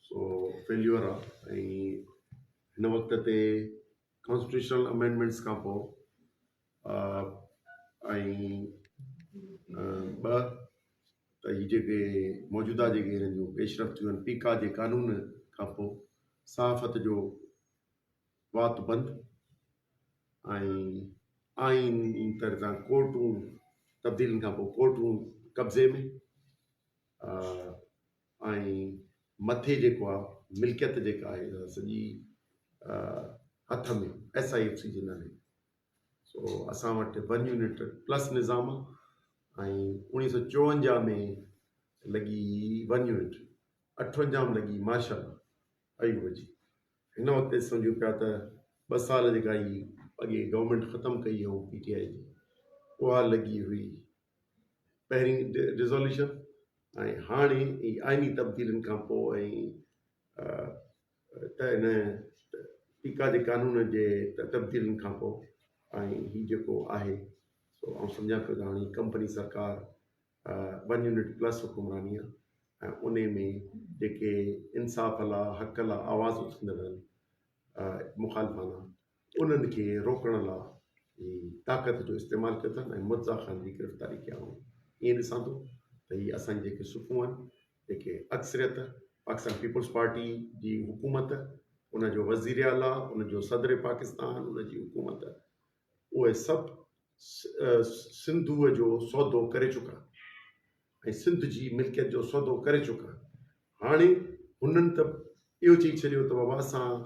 سو failure آ ۽ هن وقت تي ڪانسٽيٽيوشنل امينڊمينٽس کان پوء ۽ ٻه ته هي جيڪي موجوده جيڪي هنن جون پيشرفت ٿيون آهن پيڪا جي قانون کان پوء صحافت جو وات بند ۽ آئين جي طرح سان ڪورٽون تبديلين کان پوء ڪورٽون قبضي ۾ ۽ مٿي جيڪو آ ملڪيت جيڪا آهي اها سڄي هٿ ۾ ايس آئي ايف سي جي نالي سو اسان وٽ ون يونٽ پلس نظام آ ۽ اوڻيهه سو چوونجاهه ۾ لڳي ون يونٽ اٺونجاهه ۾ لڳي ماشاء الله ايوب جي هن وقت سمجھو پيا ته ٻه سال جيڪا هي اڳي گورنمينٽ ختم ڪئي هئون پي ٽي آئي جي اها لڳي هئي پهرين ريزوليوشن ۽ هاڻي ئي آئيني تبديلين کان پوء ته ان پيڪا جي قانون جي تبديلين کان پوء ۽ هي جيڪو آهي سو آئون سمجهان پيو ته هاڻي هي ڪمپني سرڪار ون يونٽ پلس حڪمراني آهي ۽ ان ۾ جيڪي انصاف لا حق لا آواز اٿندڙ آهن مخالفانا انهن کي روڪڻ لا ئي طاقت جو استعمال ڪيو اٿن ۽ مرزا خان جي گرفتاري ڪيا هئائون ائين ڏسان ٿو ته هي اسان جي جيڪي صفون آهن جيڪي اڪثريت پاڪستان پيپلز پارٽي جي حڪومت ان جو وزير اعليٰ ان جو صدر پاڪستان ان جي حڪومت اهي سڀ سنڌوء جو سودو ڪري چڪا ۽ سنڌ جي ملڪيت جو سودو ڪري چڪا هاڻي هنن ته اهو چئي ڇڏيو ته بابا اسان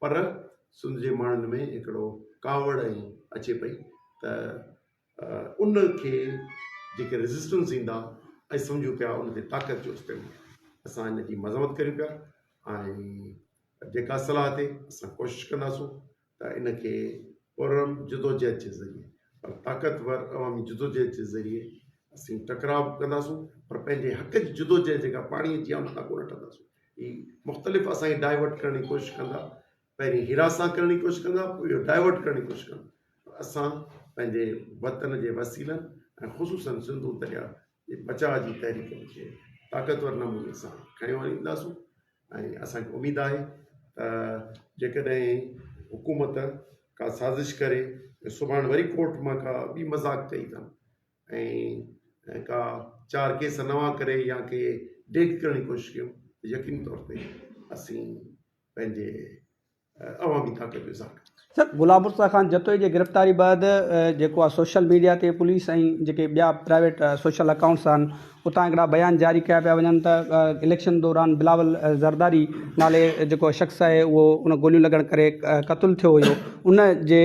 پر سنڌ جي ماڻهن ۾ هڪڙو ڪاوڙ ائين اچي پئي ته ان کي جيڪي ريزسٽنس ايندا ۽ سمجهون پيا ان کي طاقت جو استعمال اسان ان جي مذمت ڪريون پيا ۽ جيڪا صلاح تي اسان ڪوشش ڪنداسون ته ان کي پرم جدوجهد جي ذريعي پر طاقتور عوامي جدوجهد جي ذريعي اسين ٽڪراء ڪنداسون پر پنهنجي حق جي جدوجهد جيڪا پاڻي جي آمد ڪو نه ٺهنداسون هي مختلف اسان کي ڊائيورٽ ڪرڻ جي ڪوشش ڪندا پهرين هراسان ڪرڻ جي ڪوشش ڪندا پوء اهو ڊائيورٽ ڪرڻ جي ڪوشش ڪندا پر اسان پنهنجي وطن جي وسيلن ۽ خصوصن سنڌو دريا جي بچاء جي تحريڪ کي طاقتور نموني سان کنيو آڻينداسون ۽ اسان کي اميد آهي ته جيڪڏهن حڪومت ڪا سازش ڪري سڀاڻ وري ڪورٽ مان ڪا ٻي مذاق چئي اٿن ۽ ڪا چار ڪيس نوان ڪري يا ڪي ڊيگهه ڪرڻ جي ڪوشش ڪيون ته يقيني طور تي اسين پنهنجي عوامي طاقت جو اظهار ڪنداسين. سر غلام مصطفيٰ خان جتوئي جي گرفتاري بعد جيڪو آ سوشل ميڊيا تي پوليس ۽ جيڪي ٻيا پرائيويٽ سوشل اڪائونٽس آھن اتان هڪڙا بيان جاري ڪيا پيا وڃن ته اليڪشن دوران بلاول زرداري نالي جيڪو شخص آهي اهو ان گوليون لڳڻ ڪري قتل ٿيو هيو ان جي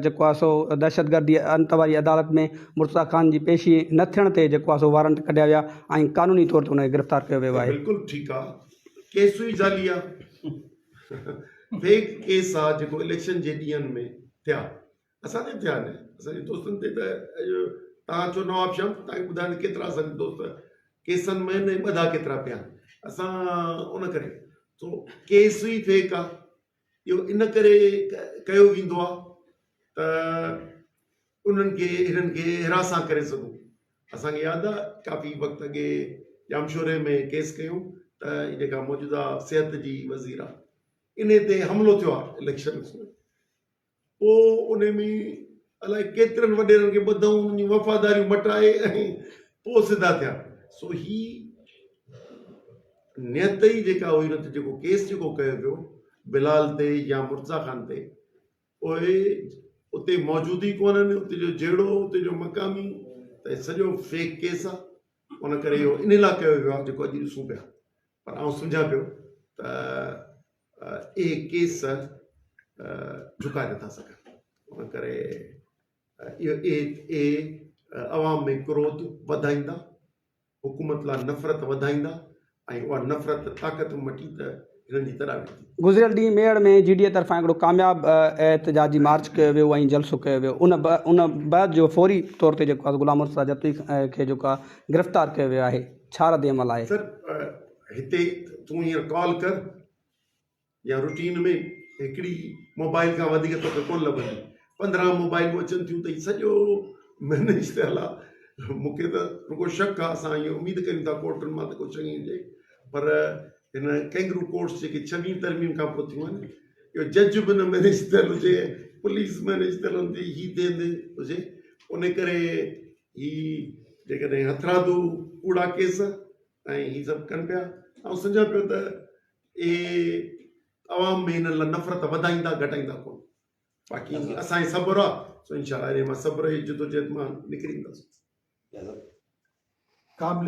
جيڪو آهي سو دهشتگردي انت واري عدالت ۾ مرتضيٰ خان جي پيشي نه ٿيڻ تي جيڪو آهي سو وارنٽ ڪڍيا ويا ۽ قانوني طور تي ان کي گرفتار ڪيو ويو آهي. بلڪل ٺيڪ آ ڪيسون ئي جعلي آ فيڪ ڪيس آ جيڪو اليڪشن جي ڏينهن ۾ ٿيا. اسان تي ٿيا آهن اسان جي دوستن تي ته اڄ توهان اچو نواب شام ته توهان کي ٻڌايان ته ڪيترا اسان جا دوست ڪيسن ۾ نه ٻڌا ڪيترا پيا آهن اسان ان ڪري سو ڪيس ئي فيڪ آهي اهو ان ڪري ڪيو ويندو آهي ته انهن کي هنن کي هراسان ڪري سگهون اسان کي ياد آهي ڪافي وقت اڳي ڄامشوري ۾ ڪيس ڪيون ته جيڪا موجوده صحت جي وزير آهي انهي تي حملو ٿيو آهي اليڪشنس ۾ پوء انهي ۾ الائي ڪيترن وڏيرن کي ٻڌئون انهن جون وفاداريون مٽائي ۽ پوء سڌا ٿيا. سو هي نيت ئي جيڪا هئي نه ته جيڪو ڪيس جيڪو ڪيو پيو بلال تي يا مرتضيٰ خان تي اهي اتي موجود ئي ڪونهن اتي جو جهيڙو اتي جو مقامي ته سڄو فيڪ ڪيس آ ان ڪري اهو انهي لاء ڪيو ويو آ جيڪو اڄ ڏسون پيا. پر آئون سمجهان پيو ته اهي ڪيس جهڪائي نٿا سگهن. ان ڪري اهي عوام ۾ ڪروڌ وڌائيندا، حڪومت لاء نفرت وڌائيندا ۽ اها نفرت طاقت مٽي ته هنن جي تڏاوي ٿيندي. گذريل ڏينهن ميهڙ ۾ جي ڊي اي طرفان هڪڙو ڪامياب احتجاجي مارچ ڪيو ويو ۽ جلسو ڪيو ويو ان بعد جو فوري طور تي جيڪو آهي غلام مرتضيٰ جتوئي کي جيڪو آهي گرفتار ڪيو ويو آهي. ڇا رد عمل آهي؟ سر هتي تون هينئر ڪال ڪر يا روٽين ۾ هڪڙي موبائل کان وڌيڪ توکي ڪونه لڀندي پندرهن موبائلون اچن ٿيون ته هي سڄو مينيج ٿيل آ مون کي ته رڳو شڪ آ اسان ائين اميد ڪريون ٿا ڪورٽن مان ته ڪو چڱي هجي پر هن ڪينگرو ڪورٽس جيڪي ڇويهين ترميم کان پوء ٿيون آهن اهو جج به نه مينيج ٿيل هجي پوليس مينيج ٿيل هوندي هي ٿيل هجي ان ڪري هي جيڪڏهن هٿرادو ڪوڙا ڪيس ۽ هي سڀ ڪن پيا آئون سمجهان پيو ته اهي عوام ۾ هنن لاء نفرت وڌائيندا گهٽائيندا ڪونه باقي اسان جي صبر آ سو انشاءالله انهي مان صبر جي جدوجهد مان نڪري اينداسون قابل